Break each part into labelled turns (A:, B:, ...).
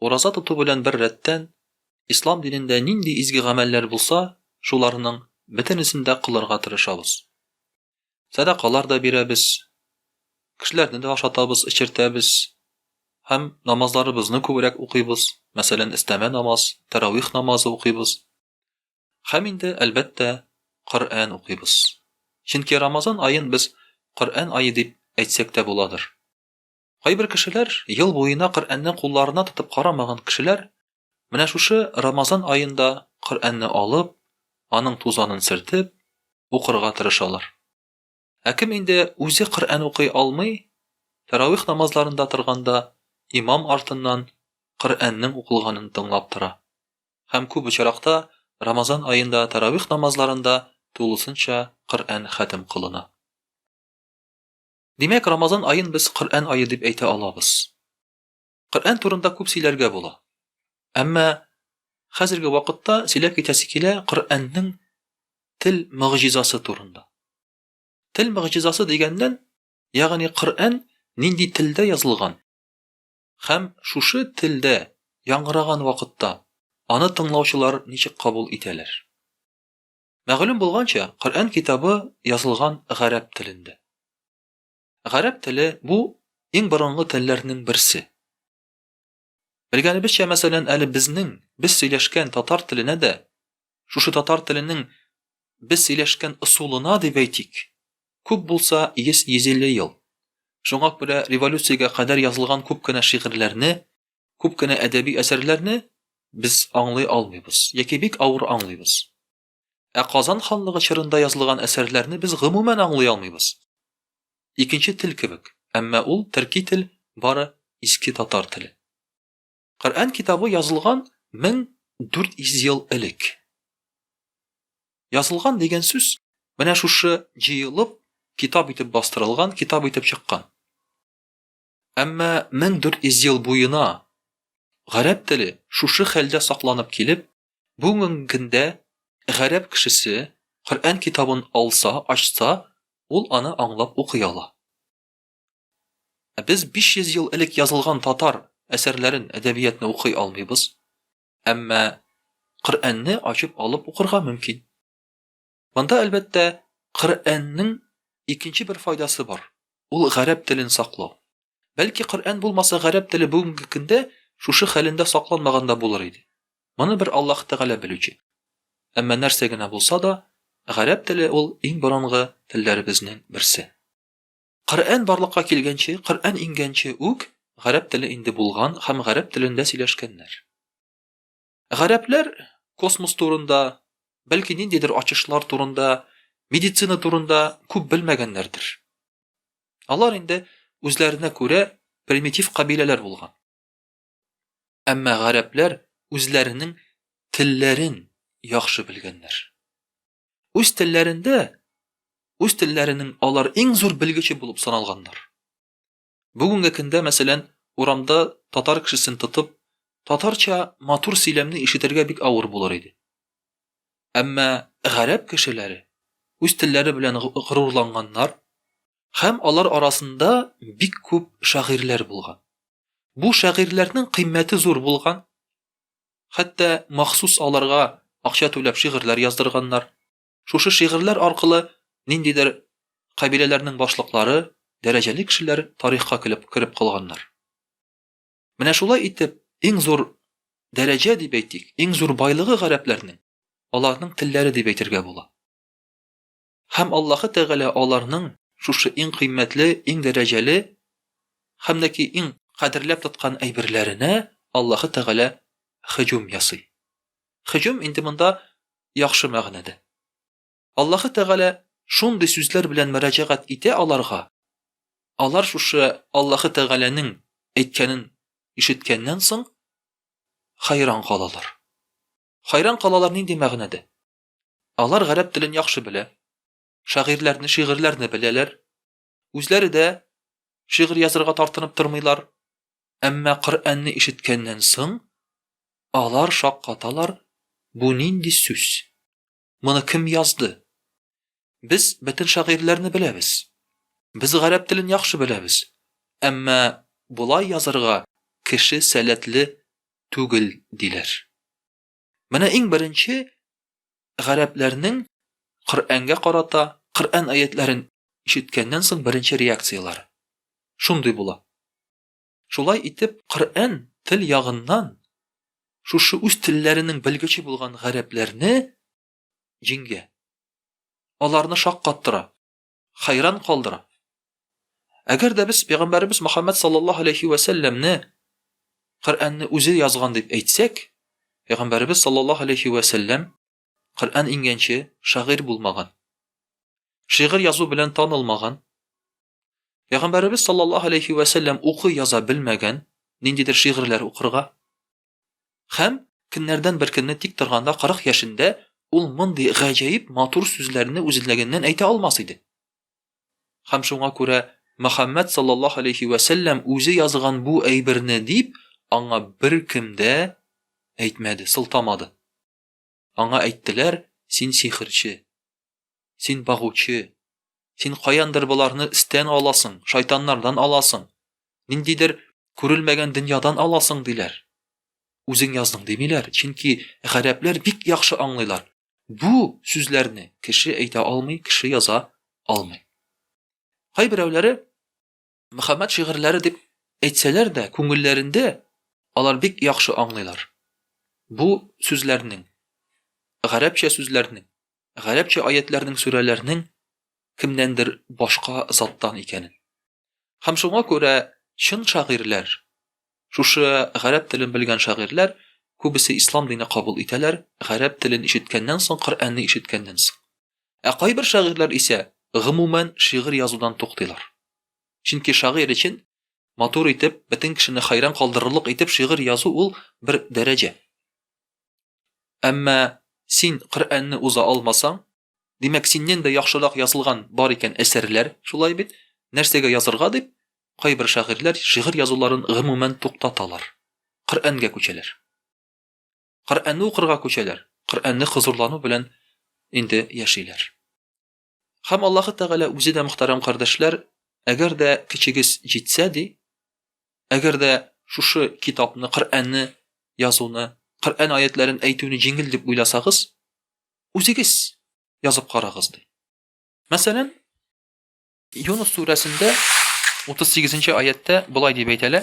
A: Ураза тоту белән бер рәттән, ислам динендә нинди изге гамәлләр булса, шуларның бөтенесен дә кылырга тырышабыз. Сәдакалар да бирәбез, кешеләрне дә ашатабыз, эчертәбез һәм намазларыбызны күбрәк укыйбыз, мәсәлән, өстәмә намаз, тәравих намазы укыйбыз. Һәм инде, әлбәттә, Коръән укыйбыз. Чөнки Рамазан аен без Коръән ае дип әйтсәк тә буладыр. Кайбер кешеләр, ел буена Коръәнне кулларына тотып карамаган кешеләр, менә шушы Рамазан аенда Коръәнне алып, аның тузанын сөртеп, укырга тырышалар. Ә кем инде үзе Коръән укый алмый, тәравих намазларында торганда имам артыннан Коръәннең укылганын тыңлап тора. Һәм күп очракта Рамазан аенда тәравих намазларында тулысынча Коръән хәтем кылына. Димәк, Рамазан аен без Коръән ае дип әйтә алабыз. Коръән турында күп сөйләргә була. Әмма хәзерге вакытта сөйләп китәсе килә Коръәннең тел мөгъҗизасы турында. Тел мөгъҗизасы дигәннән, ягъни Коръән нинди телдә язылган һәм шушы телдә яңгыраган вакытта аны тыңлаучылар ничек кабул итәләр? Мәгълүм булганча, Коръән китабы язылган гарәп телендә. Гарәп теле бу иң борынгы телләрнең берсе. Белгәнебезчә, мәсәлән, әле безнең без сөйләшкән татар теленә дә, шушы татар теленең без сөйләшкән ысулына дип әйтик, күп булса 100-150 ел. Шуңа күрә революциягә кадәр язылган күп кенә шигырьләрне күп кенә әдәби әсәрләрне без аңлый алмыйбыз яки бик авыр аңлыйбыз. Ә Казан ханлыгы чорында язылган әсәрләрне без гомумән аңлый алмыйбыз. Икенче тел кебек, әмма ул төрки тел бары иске татар теле. Коръән китабы язылган 1400 ел элек. Язылган дигән сүз менә шушы җыелып, китап итеп бастырылган, китап итеп чыккан. Әмма 1400 ел буена гарәп теле шушы хәлдә сакланып килеп, бүгенге көндә гарәп кешесе Коръән китабын алса, ачса, ул аны аңлап укый ала. Ә без 500 ел элек язылган татар әсәрләрен, әдәбиятны укый алмыйбыз. Әмма Коръәнне ачып алып укырга мөмкин. Монда, әлбәттә, Коръәннең икенче бер файдасы бар, ул гарәп телен саклау. Бәлки Коръән булмаса, гарәп теле бүгенге көндә шушы хәлендә сакланмаган да булыр иде. Моны бер Аллаһ Тәгалә белүче. Әмма нәрсә генә булса да, гарәп теле ул иң борынгы телләребезнең берсе. Коръән барлыкка килгәнче, Коръән иңгәнче үк гарәп теле инде булган һәм гарәп телендә сөйләшкәннәр. Гарәпләр космос турында, бәлки ниндидер ачышлар турында, медицина турында күп белмәгәннәрдер. Алар инде үзләренә күрә примитив кабиләләр булган. Әмма гарәпләр үзләренең телләрен яхшы белгәннәр. Үз телләрендә, үз телләренең алар иң зур белгече булып саналганнар. Бүгенге көндә, мәсәлән, урамда татар кешесен тотып, татарча матур сөйләмне ишетергә бик авыр булыр иде. Әмма гарәп кешеләре үз телләре белән горурланганнар һәм алар арасында бик күп шагыйрьләр булган. Бу шагыйрьләрнең кыйммәте зур булган. Хәтта махсус аларга акча түләп шигырьләр яздырганнар. Шушы шигырьләр аркылы ниндидер кабиләләрнең башлыклары, дәрәҗәле кешеләр тарихка килеп кереп калганнар. Менә шулай итеп, иң зур дәрәҗә дип әйтик, иң зур байлыгы гарәпләрнең аларның телләре дип әйтергә була. Һәм Аллаһы Тәгалә аларның шушы иң кыйммәтле, иң дәрәҗәле һәм дә ки иң кадерләп тоткан әйберләренә Аллаһы Тәгалә һөҗүм ясый. Һөҗүм инде монда яхшы мәгънәдә. Аллаһы Тәгалә шундый сүзләр белән мөрәҗәгать итә аларга, алар шушы Аллаһы Тәгаләнең әйткәнен ишеткәннән соң хәйран калалар. Хәйран калалар нинди мәгънәдә? Алар гарәп телен яхшы белә, шагыйрьләрне, шигырьләрне беләләр, Үзләре дә шигырь язырга тартынып тормыйлар. Әмма Коръәнне ишеткәннән соң, алар шаккаталар, бу нинди сүз? Моны кем язды? Без бөтен шагыйрьләрне беләбез. Без гарәп телен яхшы беләбез. Әмма болай язырга кеше сәләтле түгел, диләр. Менә иң беренче гарәпләрнең Коръәнгә карата Коръән аятләрен ишеткәннән соң беренче реакцияләре. Шундый була. Шулай итеп, Коръән тел ягыннан шушы үз телләренең белгече булган гарәпләрне җиңгә. Аларны шаккаттыра. хәйран калдыра. Әгәр дә без пәйгамбәребез Мөхәммәд саллаллаһу алейхи ва сәлламне Коръәнне үзе язган дип әйтсәк, пәйгамбәребез саллаллаһу алейхи ва сәллам Коръән иңгәнче шагыйрь булмаган. Шигырь язу белән танылмаган. Пәйгамбәребез саллаллаһу алейхи ва сәллам укый яза белмәгән, ниндидер шигырьләр укырга, Һәм көннәрдән бер көнне тик торганда 40 яшендә ул мондый гаҗәеп матур сүзләрне үзлегеннән әйтә алмас иде. Һәм шуңа күрә Мөхәммәд саллаллаһу алейхи вә сәлләм үзе язган бу әйберне дип аңа беркем дә әйтмәде, сылтамады. Аңа әйттеләр, Син сихерче. Син багучы. Син каяндыр боларны стен аласың, шайтаннардан аласың. Ниндидер күрелмәгән дөньядан аласың, диләр. Үзең яздың, димиләр, чөнки гарәпләр бик яхшы аңлыйлар. Бу сүзләрне кеше әйтә алмый, кеше яза алмый. Кайберәүләре Мөхәммәд шигырьләре дип әйтсәләр дә, күңелләрендә алар бик яхшы аңлыйлар. Бу сүзләрнең, гарәпчә сүзләрнең, гарәпчә аятләрнең сүрәләрнең кемнәндер башка заттан икәнен. Һәм шуңа күрә чын шагыйрьләр, шушы гарәп телен белгән шагыйрьләр күбесе ислам дине кабул итәләр, гарәп телен ишеткәннән соң, Коръәнне ишеткәннән соң. Ә кайбер шагыйрьләр исә гомумән шигырь язудан туктыйлар. Чөнки шагыйрь өчен матур итеп, бөтен кешене хәйран калдырырлык итеп шигырь язу ул бер дәрәҗә. Әмма син Коръәнне уза алмасаң, димәк, синнән дә яхшырак язылган бар икән әсәрләр, шулай бит? Нәрсәгә язырга дип, кайбер шагыйрьләр шигырь язуларын гомумән туктаталар. Коръәнгә күчәләр. Коръәнне укырга күчәләр, Коръәнне хозурлану белән инде яшиләр. Һәм Аллаһы Тәгалә үзе дә, мөхтәрәм кардәшләр, әгәр дә кечегез җитсә, ди, әгәр дә шушы китапны, Коръәнне язуны, Коръән аятләрен әйтүне җиңел дип уйласагыз, үзегез язып карагыз, ди. Мәсәлән, Юнус сүрәсендә 38 нче аятьтә болай дип әйтелә,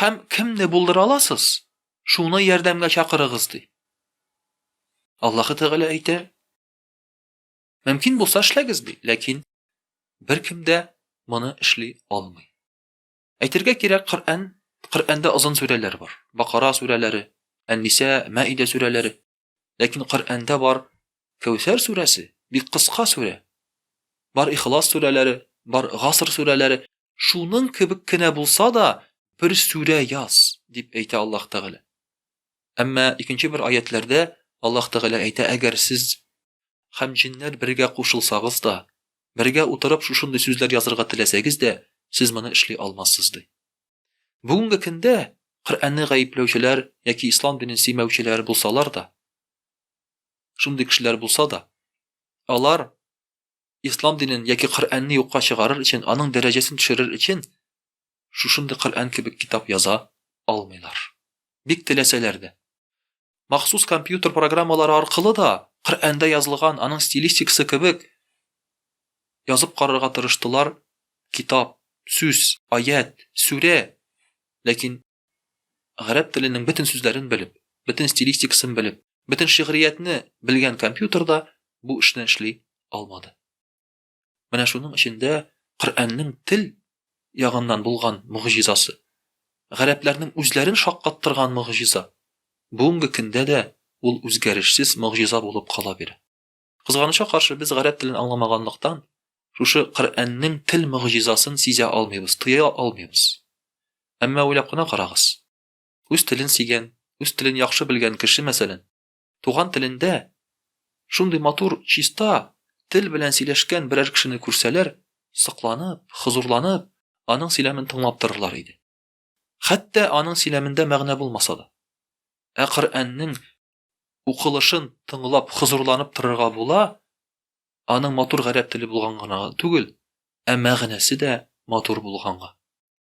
A: Һәм кемне булдыра аласыз? Шуны ярдәмгә чакырыгыз, ди. Аллаһы Тәгалә әйтә, Мөмкин булса эшләгез, ди, ләкин беркем дә моны эшли алмый. Әйтергә кирәк, Коръән, Коръәндә озын сүрәләр бар. Бакара сүрәләре, Ән-Ниса, Мәидә сүрәләре. Ләкин Коръәндә бар Кәүсәр сүрәсе, бик кыска сүрә. Бар Ихлас сүрәләре, бар Гаср сүрәләре, шуның кебек кенә булса да, бер сүрә яз, дип әйтә Аллаһ Тәгалә. Әмма икенче бер аятләрдә Аллаһ Тәгалә әйтә, әгәр сез һәм җиннәр бергә кушылсагыз да, бергә утырып шушындый сүзләр язырга теләсәгез дә, сез моны эшли алмассыз, ди. Бүгенге көндә Коръәнне гаепләүчеләр яки ислам динен сөймәүчеләр булсалар да, шундый кешеләр булса да, алар ислам динен яки Коръәнне юкка чыгарыр өчен, аның дәрәҗәсен төшерер өчен шушындый Коръән кебек китап яза алмыйлар. Бик теләсәләр дә. Махсус компьютер программалары аркылы да, Коръәндә язылган, аның стилистикасы кебек, язып карарга тырыштылар, китап, сүз, аять, сүрә, ләкин гарәп теленең бөтен сүзләрен белеп, бөтен стилистикасын белеп, бөтен шигъриятне белгән компьютер да бу эшне эшли алмады. Менә шуның эчендә Коръәннең тел ягыннан булган могҗизасы, гарәпләрнең үзләрен шаккаттырган могҗиза, бүгенге көндә дә ул үзгәрешсез могҗиза булып кала бирә. Кызганычка каршы, без гарәп телен аңламаганлыктан, шушы Коръәннең тел могҗизасын сизә алмыйбыз, тоя алмыйбыз. Әмма уйлап кына карагыз. Үз телен сигән, үз телен яхшы белгән кеше, мәсәлән, Туган телендә шундый матур, чиста тел белән сөйләшкән берәр кешене күрсәләр, сокланып, хозурланып, аның сөйләмен тыңлап торырлар иде. Хәтта аның сөйләмендә мәгънә булмаса да. Ә Коръәннең укылышын тыңлап хозурланып торырга була, аның матур гарәп теле булган гына түгел, ә мәгънәсе дә матур булганга.